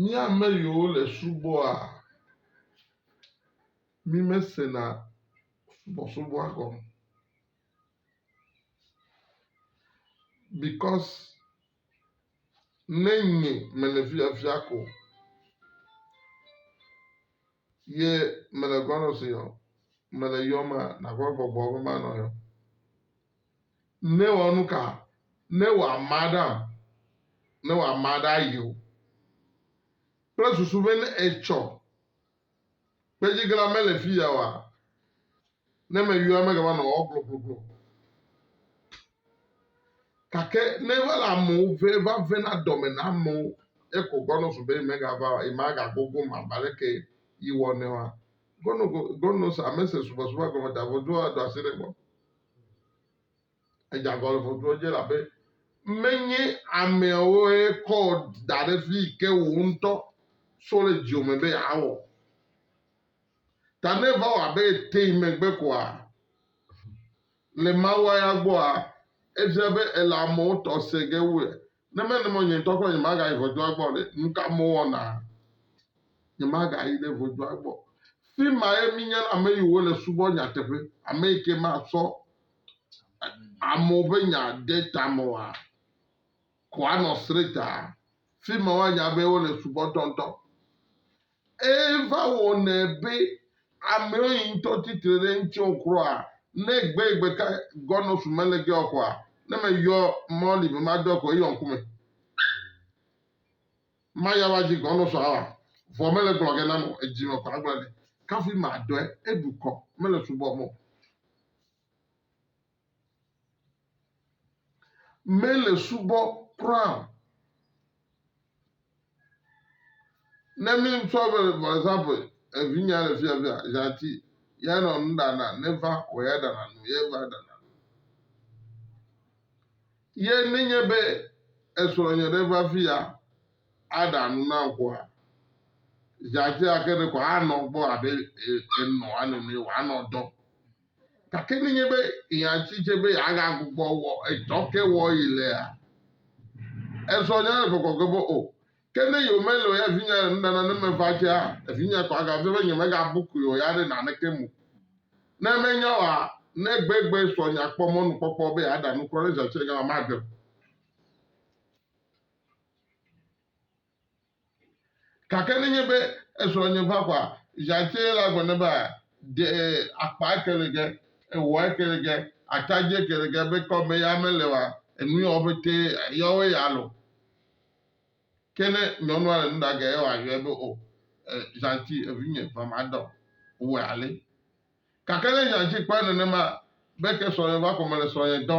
Mía ame yiwo le subɔa, mí me se na subɔsubɔa gɔme. Bikɔs ne nye me le fiafia ko ye me le gɔnɔ si yɔ, me le yɔ ma na gbɔ gbɔgbɔ be ma nɔ yɔ. Nèwɔ nu ka? Ne wòama ɖam, ne wòama ɖe ayewo kple susu be ne etsɔ kpedziglã mele fi ya oa, ne meyɔe megava nɔ ewɔ gblɔgblɔgblɔ o. Gake ne eva le amewo ve va vena dɔme na amewo ye ko gbɔnɔ su be yemegava o, yemagagogom abe aleke yi wɔ nɛ oa, gbɔnɔ go gbɔnɔ se ame se subɔsubɔa gɔme ta vɔ doa ɖo asi ɖe egbɔ. Edze agbagba le ʋɔtru edzi elabe menye ameawoe kɔ wò da ɖe fi yi ke wò ŋutɔ sɔ le dziwò me be yeawɔ o. Ta ne eva wɔ abe ete yi megbe koa, le Mawua ya gbɔa, efia be èle amewo tɔ se ge wu Ne menye mɔ nye ŋutɔ gblɔ nyemagayi ʋɔtrua gbɔ ɖe, nu ka mewɔna? Nyemagayi ɖe ʋɔtrua gbɔ. Fi mae míenya ame yi wole subɔ nyateƒe, ame yi ke matsɔ amewo ƒe nya de ta me oa, ko anɔ sreta. Fi ma woanya be wole subɔtɔ ŋutɔ. Eva wɔnɛ be amewo yi ŋutɔ titre ɖe ŋuti o kura. Ne gbe yi gbe ka gɔnɔ su mele ge o kɔa, ne me yɔ mɔ li be ma dɔ kɔ eyɔ ŋku me. Ma ya wa ji gɔnɔ su awa, vɔ mele gblɔ ge na nɔ edzi me kɔ agblɔ nɛ. Kafi ma dɔɛ, eɖu kɔ, mele subɔ mɔ. mele subɔ kura o. Ne mi ŋutɔ be vɔsa be evinya le fia fia zati ya nɔ nu ɖana ne va kɔ ya ɖana nu ye va ɖana. Ye nenye be esrɔ̃nye ɖe va fi ya aɖa nu na ŋkɔa, zãtia ke ɖe ko anɔ gbɔ abe enɔa nene wòanɔ dɔ. Gake nenye be nya si dze be yeagagbugbɔ wɔ etsɔ ke wɔ yi lea, ezɔ nya le gbɔgbɔ ge be o. Ke ne yewomeli o ya vinye le nuɖana ne meva dzea, vinye ko agafia be nyemegabu koe o ya ɖe naneke mu. Ne menya oa, ne gbegbe srɔ̃nye akpɔ mɔnukpɔkpɔ be yeaɖa nuku aɖe zi atsɔ yi gama, maɖem. Gake nenye be esrɔ̃nye va kɔa, Jacques la gblɔ nɛ be, Ɖe akpa eke le ge, ewɔ eke le ge, ata dzi eke le ge be kɔ me ya mele oa, enu yawo ƒete yɔwoe ya lo. Ke ne nyɔnua le nu ɖa ge, ye wòayɔe be, O, Jacques, evinye, va madɔ wòe ale. Gake ne nya dzi kpɔe nenema be ke srɔ̃nye va kɔme le srɔ̃nye dɔ,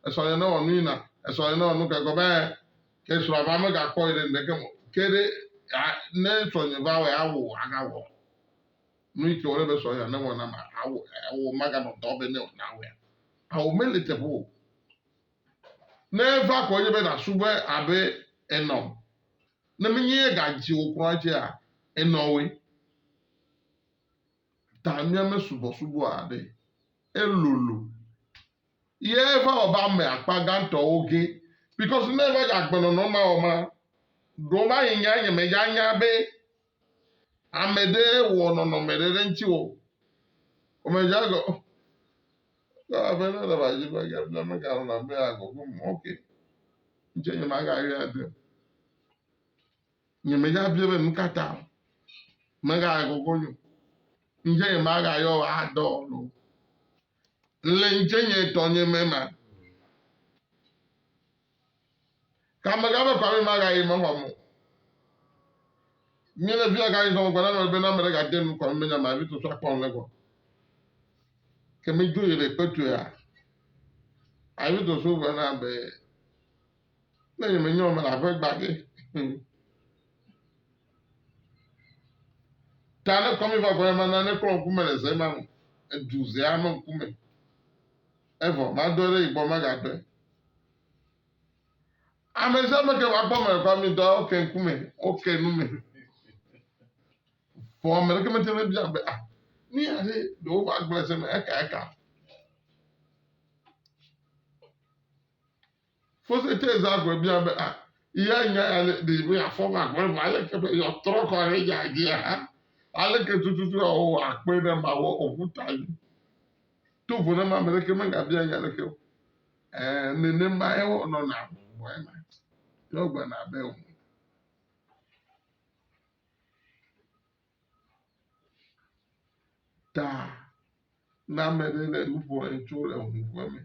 esrɔ̃nye ne wɔ nu yina, esrɔ̃nye ne wɔ nu ke gɔ be ke srɔ̃a va mega kpɔe ɖe ŋɖeke me o, ke ɖe a ne srɔ̃nye va wɔe awɔ o aga wɔ nu yike wòle be srɔ̃nye ne wɔ na ma awɔ awɔ maga nɔ dɔ be ne wɔ na wɔe a o mele teƒe o. Ne eva kɔ edzi be na su be abe enɔ ne menye ye ga dzi wò kura dzia enɔ woe. ta míame subɔsubɔ aɖe. Elolo. Ye va wɔ be ame akpa gãtɔwo ge. Because ne eva dze agbenɔnɔ mawɔma, ɖewo va yi nya nye me ya nya be ame ɖe wɔ nɔnɔme ɖe ɖe ŋuti wɔ. Ame dza gɔ. Ke abe ne le va dzi be ya bla me gãlɔna be agɔ gome. Ok. Ŋuti nye ma gã yɔe ade. Nye me ya bia be nu ka ta me ga yɔ gogo nyo. Nje nye ma ga yɔ a dɔ lo. Nle nje nye dɔ nye me ma. Ka me ga be kwa me ma ga yi me hɔ mo. Nye le via ga yi zɔn gwana me be na me le ga de nu kwa me me nya ma vi to so akpɔ nle gɔ. Ke me jo yi le kpetue a. Avi to so gwana be. Ne nye menye ame le aƒe gbage. Ta ne kɔmi va kɔmi ma nane klɔ ŋkume le ze ma me. Edu zea me ŋkume. Evɔ madɔe ɖe yibɔ magadɔe. Ame sia ame ke vakpɔ me kɔ mi dɔ oke ŋkume, oke nu me. Vɔ ame ɖeke mete ne bia be ah ni aɖe ɖewo va gblẽ se me eka eka. Fositeza gbe bia be, A, ya nya ya le ɖi be yeafɔ ŋu agblɔ na mi aleke be yeatrɔ kɔ ɖe nya dzia? Aleke tututu wòawɔ wòakpɔe ne mawɔ ŋu ta mi? To vovo ne ame aɖeke megabia nya aɖeke o. Ẽ, nenemae wònɔna gbɔgbɔe me. Yewo gblɔna be, Ŋu. ta ne ame ɖe le nu ƒom etso le huƒe me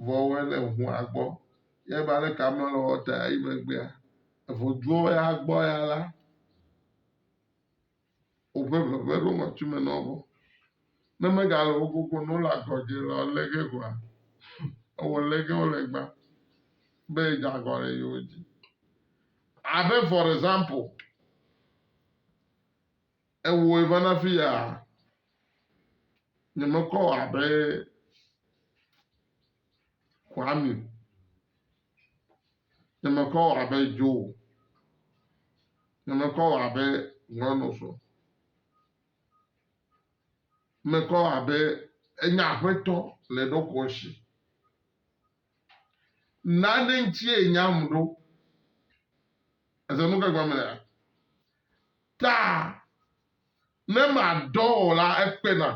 vɔ ele hua gbɔ ye va le kame le wɔta yi megbea evoduɔ ya gbɔ ya la woƒe veve ɖo ŋɔtsi me na wo ne megale wo gogo ne wole agɔdze la lé ge gɔa ewɔ lé ge wole gba be dze agɔ le yewo dzi abe for example Ewɔe va na fi ya. Nyemekɔ abe Kwame. Nyemekɔ abe Joe. Nyemekɔ abe Nyɔnɔsɔ. Mekɔ abe enye aƒetɔ le ɖokɔ si. Nane ŋutie nyam ɖo. Èse nu ka gɔme lea? Ta ne madɔ o la, ekpe nam.